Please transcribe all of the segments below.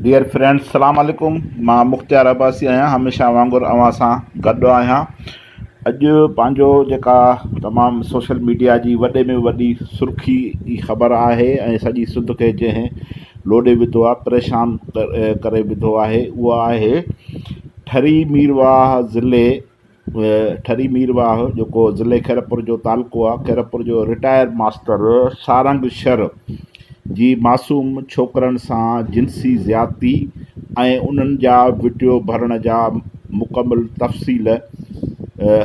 Dear friends سلام عليڪم مان مختيار عباسي آهيان هميشه وانگر اوهان سان گڏ آهيان اڄ پنهنجو جيڪا تمام سوشل ميڊيا جي وڏي ۾ وڏي سرخي جي خبر آهي ۽ سڄي سنڌ کي جنهن لوڏي وڌو آهي پريشان ڪري وڌو آهي اها آهي ٺري ميرواهه ضلعي ٺري مير واهه جيڪو ضلعي خيرپور جو تعلقو آهي خيرپور جو رٽائر ماستر سارنگ شر جي معصوم ڇوڪرن سان جنسي زيادتي ۽ انهن جا وڊيو ڀرڻ جا مڪمل تفصيل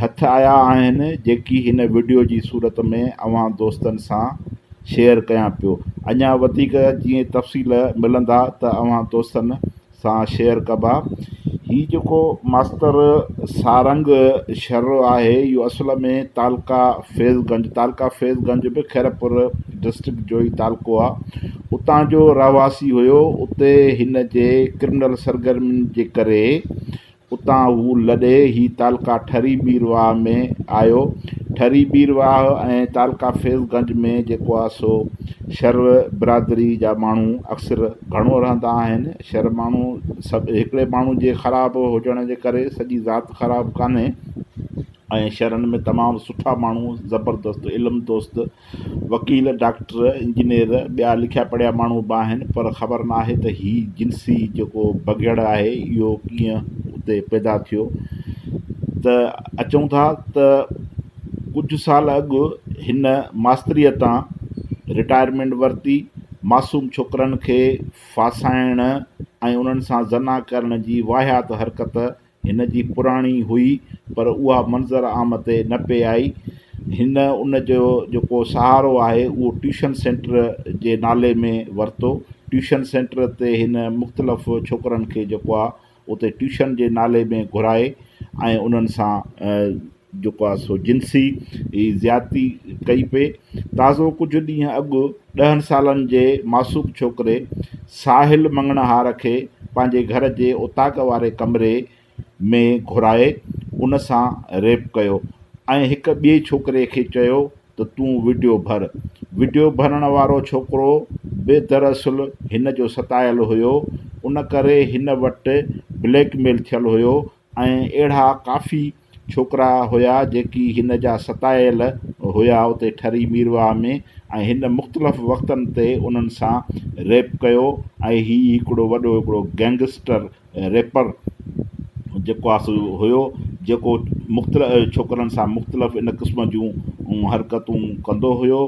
هٿ آيا آهن جيڪي هن وڊيو جي صورت ۾ اوهان دوستن سان شيئر ڪيان پيو اڃا وڌيڪ جيئن تفصيل ملندا ته اوهان دوستن سان شيئر ڪبا. هي جيڪو ماستر سارنگ شھرو آھي اھو اصل ۾ تعلقه فيض گنج، تعلقه فيض گنج به خيرپور ڊسٽرڪٽ جو ئي تعلقو آ، اتان جو رهواسي هيو، اتي هن جي ڪرمنل سرگرمين جي ڪري اتان هو لڏي هي تعلقه ٺري بيرواهه ۾ آيو. ٺري بيرواهه ۽ تعلقه فيض گنج ۾ جيڪو آهي سو شر برادري جا ماڻهو اڪثر گهڻو رهندا آهن. شر ماڻهو سڀ هڪڙي ماڻهو جي خراب هجڻ جي ڪري سڄي ذات خراب ڪانهي ۽ شرن ۾ تمام سٺا ماڻهو زبردست علم دوست وڪيل، ڊاڪٽر، انجنيئر، ٻيا لکيا پڙهيا ماڻهو به آهن پر خبر نه آهي ته هي جنسي جيڪو بگهڙ آهي اهو ڪيئن اتي پيدا ٿيو ته اچون ٿا ته ڪجهه سال اڳ هن ماستريء تان رٽائرمينٽ ورتي معصوم ڇوڪرن کي ڦاسائڻ ۽ انهن سان زنا ڪرڻ جي واهيات حرڪت هن جي پراڻي هئي پر اها منظر عام تي نه پئي آئي. هن ان جو جيڪو سهارو آهي اهو ٽيوشن سينٽر جي نالي ۾ ورتو. ٽيوشن سينٽر تي هن مختلف ڇوڪرن کي جيڪو آهي اتي ٽيوشن جي نالي ۾ گهرائي ۽ انهن سان جيڪو آهي سو جنسي زيادتي ڪئي پئي تازو ڪجهه ڏينهن اڳ ڏهن سالن جي معصوم ڇوڪري ساحل مڱڻهار کي پنهنجي گهر جي اوطاق واري ڪمري ۾ گهرائي ان سان ريپ ڪيو ۽ هڪ ٻئي ڇوڪري کي چيو ته تون وڊيو ڀر وڊيو ڀرڻ وارو ڇوڪرو به دراصل هن جو ستايل هيو ان ڪري هن وٽ بليڪ ميل ٿيل هيو ۽ اهڙا ڪافي ڇوڪرا هيا جيڪي هن جا ستايل هيا اتي ٺري ميرواهه ۾ ۽ هن مختلف وقتن تي انهن سان ريپ ڪيو ۽ هي هڪڙو وڏو هڪڙو گينگسٽر ريپر جيڪو آ سو هيو جيڪو مختلف ڇوڪرن سان مختلف ان قسم جون حرڪتون ڪندو هيو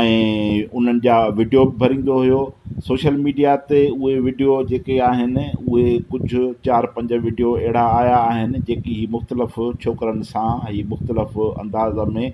۽ انهن جا وڊيو به ڀريندو هيو سوشل ميڊيا تي اهي وڊيو جيڪي آهن اهي ڪجهه چار پنج وڊيو اهڙا آيا آهن جيڪي هي مختلف ڇوڪرن سان هي مختلف انداز ۾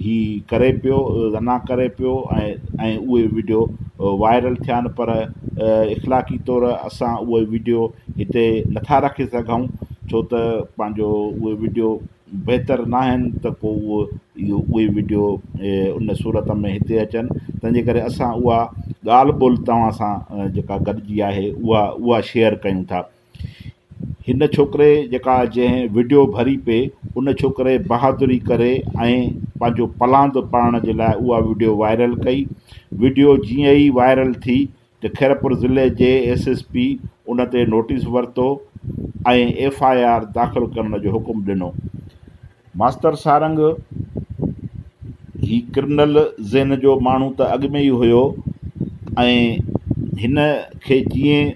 هي ڪري پيو زنا ڪري پيو ۽ اهي وڊيو وائرل ٿيا آهن پر اخلاقي طور اسان اهي وڊيو هتي نٿا رکي سگهون ڇو ته پنهنجو اهي وڊيو بهتر ناهن ته پوء اهو اهو اهي وڊيو ان صورت ۾ هتي اچن تنهن جي ڪري اسان اها ڳالهه ٻولهه توهان سان جيڪا گڏجي آهي اها اها شيئر ڪيون ٿا هن ڇوڪري جيڪا جنهن وڊيو ڀري پئي ان ڇوڪري بهادري ڪري ۽ پنهنجو پلاند پڙهڻ جي لاء اها وڊيو وائرل ڪئي وڊيو جيئن ئي وائرل ٿي ته خيرپور ضلعي جي ايس ايس پي ان تي نوٽيس ورتو ۽ ايف آء آر داخل ڪرڻ جو حڪم ڏنو. ماستر سارنگ هي ڪرنل ذهن جو ماڻهو ته اڳ ۾ ئي هيو ۽ هن کي جيئن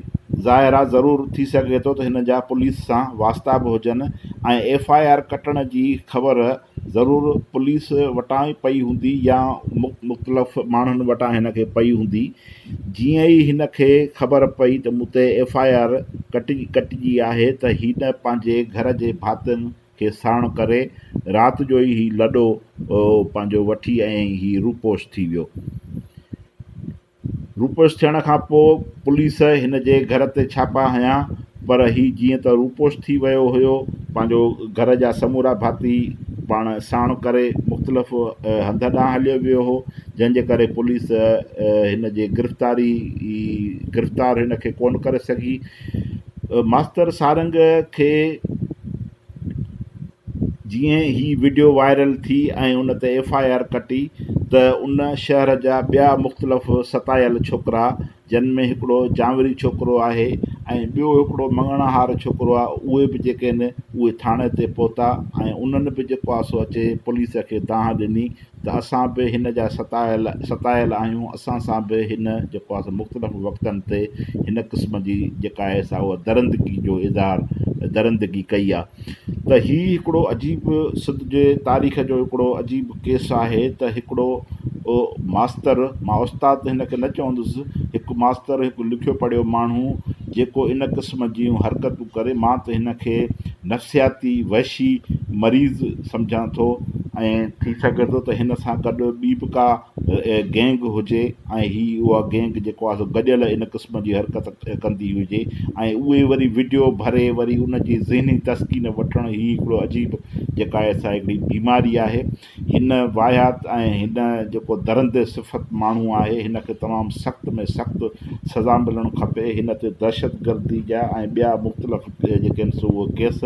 ظاهر آ ضرور ٿي سگهي ٿو ته هن جا پوليس سان واسطا به هجن ۽ ايف آء آر ڪٽڻ جي خبر ضرور پوليس وٽان ئي پئي هوندي يا مختلف ماڻهن وٽان هن کي پئي هوندي. جيئن ئي هن کي خبر پئي ته مون تي ايف آء آر ڪٽجي آهي ته هن پنهنجي گهر جي ڀاتين کي ساڻ ڪري رات جو ئي هي لڏو پنهنجو وٺي ۽ هي روپوش ٿي ويو. روپوش ٿيڻ کان پوء پوليس هن جي گهر تي ڇاپا هنيا پر هي جيئن ته روپوش ٿي ويو هيو، پنهنجو گهر جا سمورا ڀاتي پاڻ ساڻ ڪري مختلف هنڌ ڏانهن هليو ويو هو، جنهن جي ڪري پوليس هن جي گرفتاري گرفتار هن کي ڪونه ڪري سگهي. ماستر سارنگ کي جيئن هي وڊيو وائرل ٿي ۽ ان تي ايف آء آر ڪٽي ته ان شهر جا ٻيا مختلف ستايل ڇوڪرا جن ۾ هڪڙو چانوري ڇوڪرو آهي ۽ ٻيو هڪڙو مڱڻهار ڇوڪرو آهي اهي به جيڪي آهن اهي ٿاڻي تي پهتا ۽ انهن به جيڪو آهي سو اچي پوليس کي دانهن ڏني ته اسان به هن جا ستايل ستايل آهيون اسان سان به هن جيڪو آهي سو مختلف وقتن تي هن قسم جي جيڪا آهي سا اها درندگي جو اظهار درندگي ڪئي آهي ته هي هڪڙو عجيب سنڌ جي تاريخ جو هڪڙو عجيب ڪيس آهي ته هڪڙو ماستر، مان استاد ته هن کي نه چوندس، هڪ ماستر، هڪ لکيو پڙهيو ماڻهو جيڪو ان قسم جيون حرڪتون ڪري، مان ته هن کي نفسياتي وحشي مريض سمجهان ٿو. ائين ٿي سگهي ٿو ته هن سان گڏ ٻي به ڪا گينگ هجي ۽ هي اها گينگ جيڪو آهي سو گڏيل ان قسم جي حرڪت ڪندي هجي ۽ اهي وري وڊيو ڀري وري ان جي ذهني تسڪين وٺڻ هي هڪڙو عجيب جيڪا آهي سا هڪڙي بيماري آهي هن واهيات ۽ هن جيڪو درندي صفت ماڻهو آهي هن کي تمام سخت ۾ سخت سزا ملڻ کپي هن تي دهشت گردي جا ۽ ٻيا مختلف جيڪي آهن سو اهي ڪيس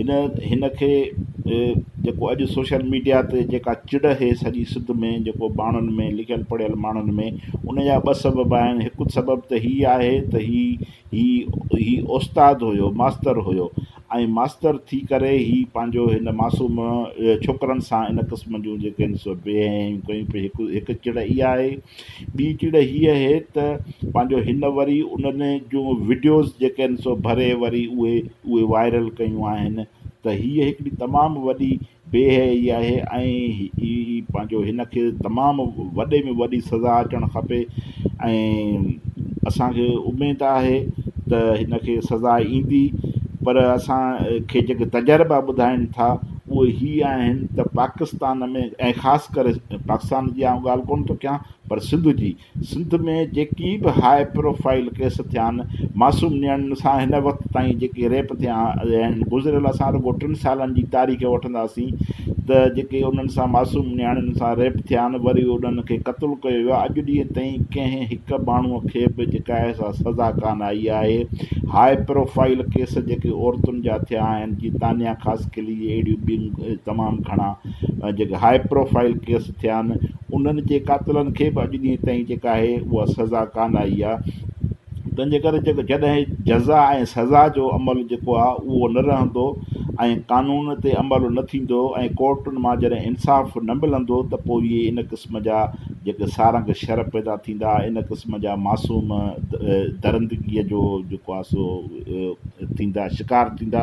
هن هن کي جيڪو اڄ سوشل ميڊيا تي جيڪا چڙ هي سڄي سنڌ ۾ جيڪو ٻانهن ۾ لکيل پڙهيل ماڻهن ۾ ان جا ٻه سبب آهن هڪ سبب ته هي آهي ته هي هي هي استاد هيو ماستر هيو ۽ ماستر ٿي ڪري هي پنهنجو هن معصوم ڇوڪرن سان ان ڪسم جون جيڪي بي حيائيون ڪيون پئي هڪ هڪ چڙ اها آهي ٻي چڙ هيء اهي ته پنهنجو هن وري انهن جون وڊيوز جيڪي آهن سو ڀري وري اهي اهي وائرل ڪيون آهن ته هيء هڪڙي تمام وڏي بي حيائي آهي ۽ پنهنجو هن کي تمام وڏي ۾ وڏي سزا اچڻ کپي ۽ اسان کي اميد آهي ته هن کي سزا ايندي پر اسان کي جيڪي تجربا ٻڌائين ٿا اهي هي آهن ته پاڪستان ۾ ۽ خاص ڪري پاڪستان جي آئون ڳالهه ڪونه ٿو ڪيان پر سنڌ جي سنڌ ۾ جيڪي به هاء پروفائيل ڪيس ٿيا آهن معصوم نياڻين سان هن وقت تائين جيڪي ريپ ٿيا آهن گذريل اسان رڳو ٽن سالن جي تاريخ وٺنداسين ته جيڪي انهن سان معصوم نياڻين سان ريپ ٿيا آهن وري انهن کي قتل ڪيو ويو اڄ ڏينهن تائين ڪنهن هڪ ماڻهو کي به جيڪا آهي سا سزا ڪانه آئي آهي هاء پروفائيل ڪيس جيڪي عورتن جا ٿيا آهن جي تانيا خاص قلي جي اهڙيون ٻيون تمام گهڻا جيڪي هاء پروفائيل ڪيس ٿيا آهن انهن جي قاتلن کي به اڄ ڏينهن تائين جيڪا آهي اها سزا ڪانه آئي آهي تنهن جي ڪري جيڪو جڏهن جزا ۽ سزا جو عمل جيڪو آهي اهو نه رهندو ۽ قانون تي عمل نه ٿيندو ۽ ڪورٽن مان جڏهن انصاف نه ملندو ته پوء اهي ان قسم جا جيڪي سارنگ شر پيدا ٿيندا ان قسم جا معصوم درندگيء جو جيڪو آهي سو ٿيندا شڪار ٿيندا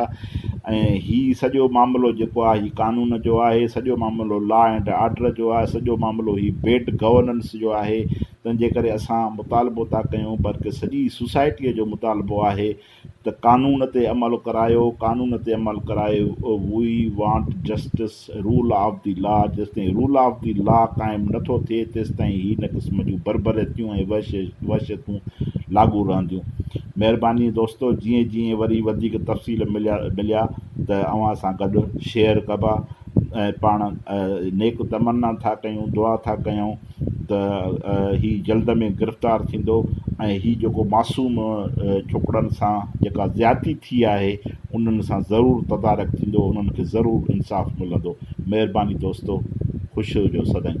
۽ هي سڄو معاملو جيڪو آهي هي قانون جو آهي سڄو معاملو لا اينڊ آرڊر جو آهي سڄو معاملو هي بيڊ گورننس جو آهي تنهن جي ڪري اسان مطالبو ٿا ڪيون بلڪه سڄي سوسائٽيء جو مطالبو آهي ته قانون تي عمل ڪرايو قانون تي عمل ڪرايو we want justice rule of the law, جيستائين رول آف دي لا قائم نه ٿو ٿئي تيستائين هي هن قسم جون بربريتيون ۽ وحشتون لاڳو رهنديون. مهرباني دوستو جيئن جيئن وري وڌيڪ تفصيل مليا ته اوهان سان گڏ شيئر ڪبا ۽ پاڻ نيڪ تمنا ٿا ڪيون دعا ٿا ڪيون. ته هي جلد ۾ گرفتار ٿيندو ۽ هي جيڪو معصوم ڇوڪرن سان جيڪا زيادتي ٿي آهي انهن سان ضرور تدارڪ ٿيندو انهن کي ضرور انصاف ملندو مهرباني دوستو خوش هجو سدائين.